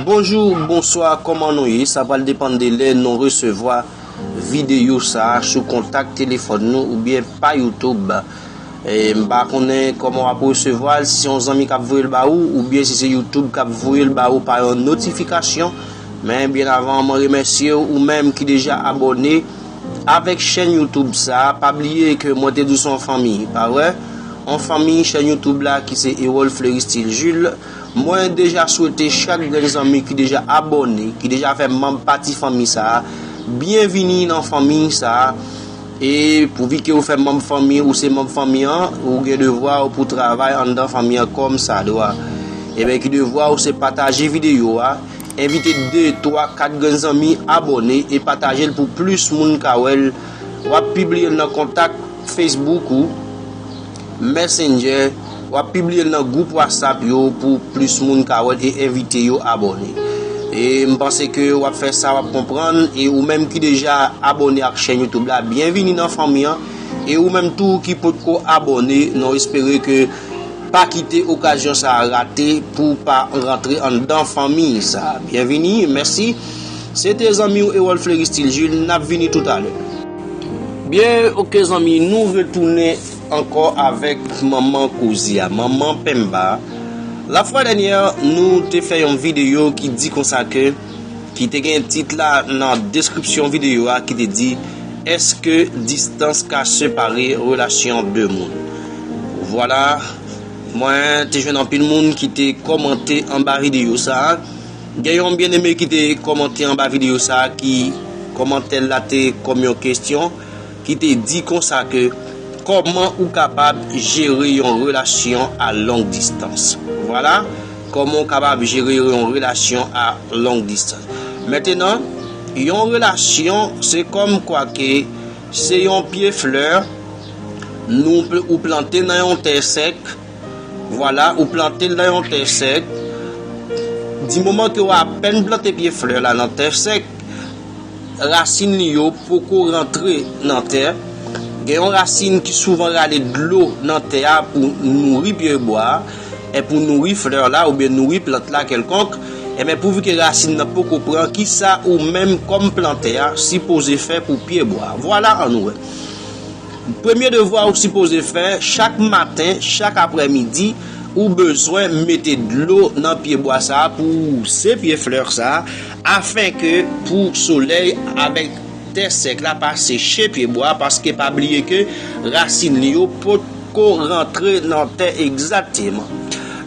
Bonjou bonswa kòman nou ye sa pral depann de lè nou resevwa videyo sa sou kontak telefòn nou oubyen pa YouTube m pa konnen kòman wap resevwa l si se yon zanmi kap voye l ba ou oubyen si se YouTube kap voye l ba ou pa yon notifikasyon men byen avan mwen remèsye ou menm ki deja abòne avèk chèn YouTube sa pa bliye ke mwen te di w se yon fanmi pa vre yon fanmi chèn YouTube la ki se Erol Fleuristil Jules. Mwen deja swete chak grenn zanmi ki deja abòne, ki deja fè manb pati fanmi sa a, byen vini nan fanmi sa a e pou vi ke ou fè manb fanmi ou se manb fanmi an ou gen devwa ou pou travay anndan fanmi an kòm sa dwa ebyen ki devwa ou se pataje videyo a envite 2, 3, 4 grenn zanmi abòne e pataje l pou plis moun ka wè l wap pibliye l nan kontak Facebook ou. Messenger, wap pibliye l nan group WhatsApp yo pou plis moun ka wèl e envite yo abòne. E m panse ke wap fè sa wap konprann e ou menm ki deja abòne ak chèn YouTube la byenvini nan fanmi an e ou menm tou ki potko abòne non espere ke pa kite okazyon sa rate pou pa rantre anndan fanmi sa byenvini mèsi se te zanmiw Erol Fleury Stil Jules nap vini toutalè. Byen ok zanmi nou retounen ankò avèk manman koze a, manman Pemba. La fwa dènyè nou te fè yon videyo ki di konsa ke, ki te gen tit la nan deskripsyon videyo a ki te di, Eske distans ka separe relasyon 2 moun? Vwala, mwen te jwenn anpil moun ki te kòmante anba videyo sa. Gen yon byeneme ki te kòmante anba videyo sa ki kòmantè l la te kòm yon kestyon. ki te di konsa ke kòman ou kapab jere yon relasyon a long distans. Vwala kòman ou kapab jere yon relasyon a long distans. Mentenan, yon relasyon se kòm kwa ke se yon pye flè nou ou plante nan yon tè sèk, Vwala ou plante l nan yon tè sèk, di moman ke w apèn plante pye flè la nan tè sèk, rasin li yo poko rantre nan tè, gen yon rasin ki souvan rale dlo nan tè a pou nouri pye bwa a, e pou nouri flè la oubyen nouri plant la kèlkonk, enben pouvi ke rasin nan poko pran kisa ou menm kòm plantè a sipoze fè pou pye bwa a. Vwala an nou wè. Premye devwa ou sipoze fè, chak maten, chak aprè midi, ou bezwen mete dlo nan pye bwa sa a pou wouze pye flè sa a, afen ke pou solèy avèk tè sèk la pa seche pye bwa a, paske pa bliye ke rasin li yo potko rantre nan tè egzakteman.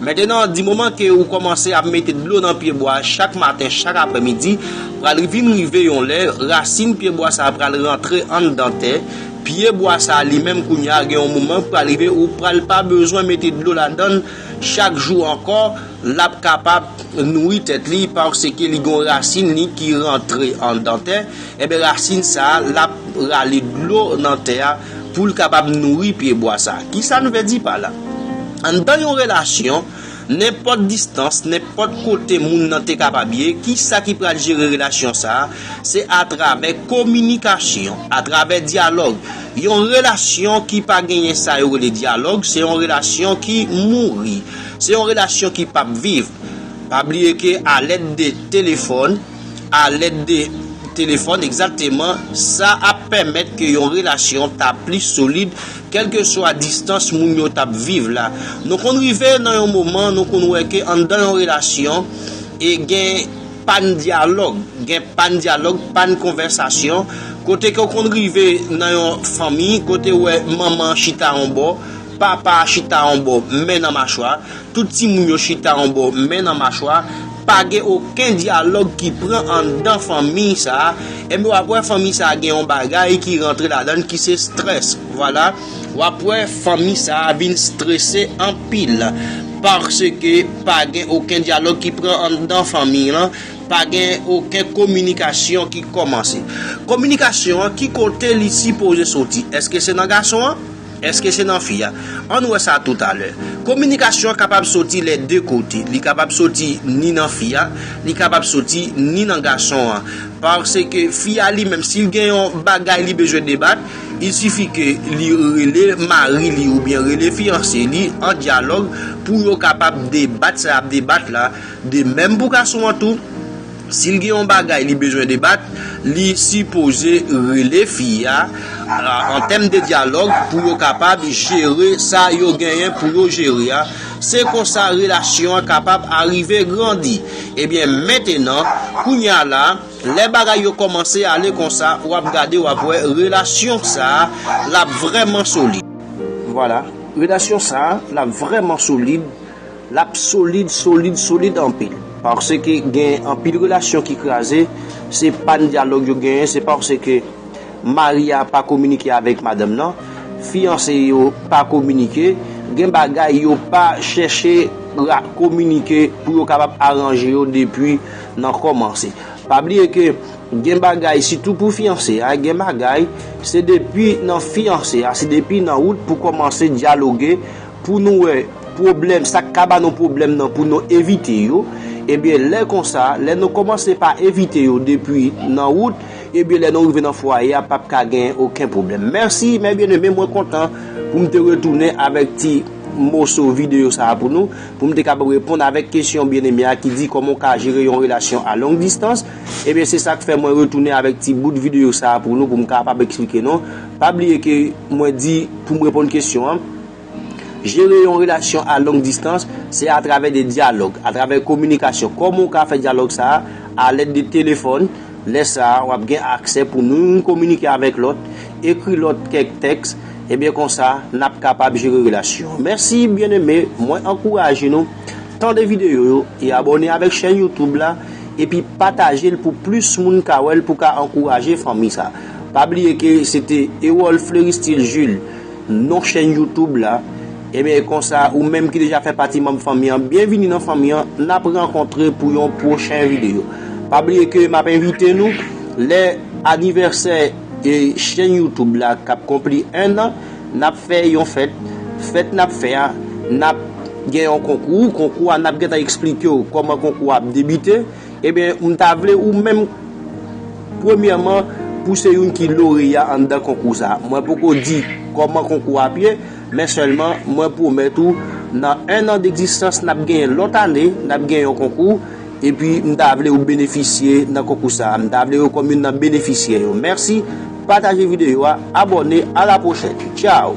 Mentenan, di moman ke ou kòmanse ap mete dlo nan pyebwa chak maten, chak aprè midi, pral vin rive yon lè, rasin pyebwa sa pral rantre anndan tè, pye bwa sa li menm kounye a gen yon moman k pral rive ou pral pa bezwen mete dlo ladann chak jou ankò, lap kapab nouri tèt li paske li gen yon rasin li ki rantre anndan tè. Enben rasin sa a, l ap rale dlo nan tè a pou l kapab nouri pyebwa sa a. Kisa n vle di pa la? Anndan yon relasyon, nenpòt distans, nenpòt kote moun nan te kapab ye, kisa ki pral jere relasyon sa a? Se atravè kominikasyon, atravè dyalòg. Yon relasyon ki pa genyen sa yo rele dyalòg, se yon relasyon ki mouri. Se yon relasyon ki p ap viv. Pa bliye ke alèd de telefòn. a lèd de telefòn egzakteman sa ap pèmèt ke yon relasyon ta plis solid kèlkeswa distans moun yo tap viv la. Nou konn rive nan yon moman nou konn wè ke anndan yon relasyon e gen pàn dyalòg, gen pàn dyalòg, pàn konvèsasyon, kote ke w konn rive nan yon fanmi kote wè manman chita yon bò, papa chita yon bò, men nan machwa. Tout timoun yo chita yon bò men nan machwa, pa gen oken dyalòg ki pran anndan fanmi sa, enben wap wè fanmi sa gen yon bagay ki rantre ladann ki se strès, vwala, wap wè fanmi sa vin strese anpil, paske pa gen oken dyalòg ki pran anndan fanmi lan, pa gen oken kominikasyon ki kòmanse. Kominikasyon an ki kote li sipoze soti? Eske se nan gason an? Èske se nan fi a? Ann wè sa tou talè. Kominikasyon an kapab soti lè de kote. Li kapab soti ni nan fi a, li kapab soti ni nan gason an. Paske fi a li menm si l gen yon bagay li bezwen debat, il sifi ke li rele mari li oubyen rele fiyanse li an dyalòg pou yo kapab debat sa y ap debat la. De menm pou gason an tou. Si l gen yon bagay li bezwen debat, li sipoze rele fi a an tèm de dyalòg pou yo kapab jere sa yo genyen pou yo jere a. Se konsa relasyon an kapab arive grandi. Ebyen mentenan, kounye a la, lè bagay yo kòmanse ale konsa, w ap gade w ap wè relasyon sa a l ap vrèman solid. Vwala, relasyon sa a l ap vrèman solid. Lap solid solid solid anpil. Paske gen anpil relasyon ki kraze se pa n dyalòg yo genyen se paske mari a pa kominike avèk madanm nan, fiyanse yo pa kominike, gen bagay yo pa chèche kominike pou yo kapab aranje yo depi nan kòmanse. Pa bliye ke gen bagay sitou pou fiyanse a gen bagay se depi nan fiyanse a se depi nan wout pou kòmanse dyaloge pou nou wè pwoblèm, sa k ka ba nou pwoblèm nan pou nou evite yo, ebyen lè konsa, lè nou kòmanse pa evite yo depi nan wout, ebyen lè nou rive nan fwaye a pap ka gen oken pwoblèm. Mèsi mè byeneme mwen kontan pou m te retounen avèk ti moso videyo sa a pou nou, pou m te kapab reponn avèk kesyon byeneme a ki di kòman w ka jere yon relasyon a long distans, ebyen se sa k fè mwen retounen avèk ti bout videyo sa a pou nou pou m kapab eksplike nou, pa bliye ke mwen di pou m reponn kesyon an. Jere yon relasyon a long distans, se atravè de dyalòg, atravè kominikasyon. Kòman ou ka fè dyalòg sa a? A lèd de telefòn, lè sa a, w ap gen aksè pou nou youn kominike avèk lòt, ekri lòt kèk tèks, ebyen konsa, n ap kapab jere relasyon an. Mèsi byeneme, mwen ankouraje nou tande videyo yo e abòne avèk chèn YouTube la, epi pataje l pou plis moun ka wè l pou ka ankouraje fanmi sa a. Pa bliye ke se te Erol Fleuristil Jules non chèn YouTube la Ebyen konsa ou menm ki deja fè pati manm fanmi an byenvini nan fanmi an nap rankontre pou yon pwochen videyo pa bliye ke map envite nou lè anivèsè chèn YouTube la kap konpli 1 an nap fè yon fèt fèt nap fè a nap gen yon konkou konkou a nap gentan eksplikew kòman konkou a ap debite. Ebyen m ta vle ou menm premyèman pou se youn ki loreya anndan konkou sa. Mwen poko di kòman konkou a ap ye, men sèlman mwen pwomèt ou nan 1 an degzistans n ap genyen lòt ane n ap gen yon konkou epi m ta vle ou benefisye nan konkou sa. M ta vle ou kòm youn nan benefisyè yo. Mèsi, pataje videyo a, abòne, a la pwochèn. Tchaw!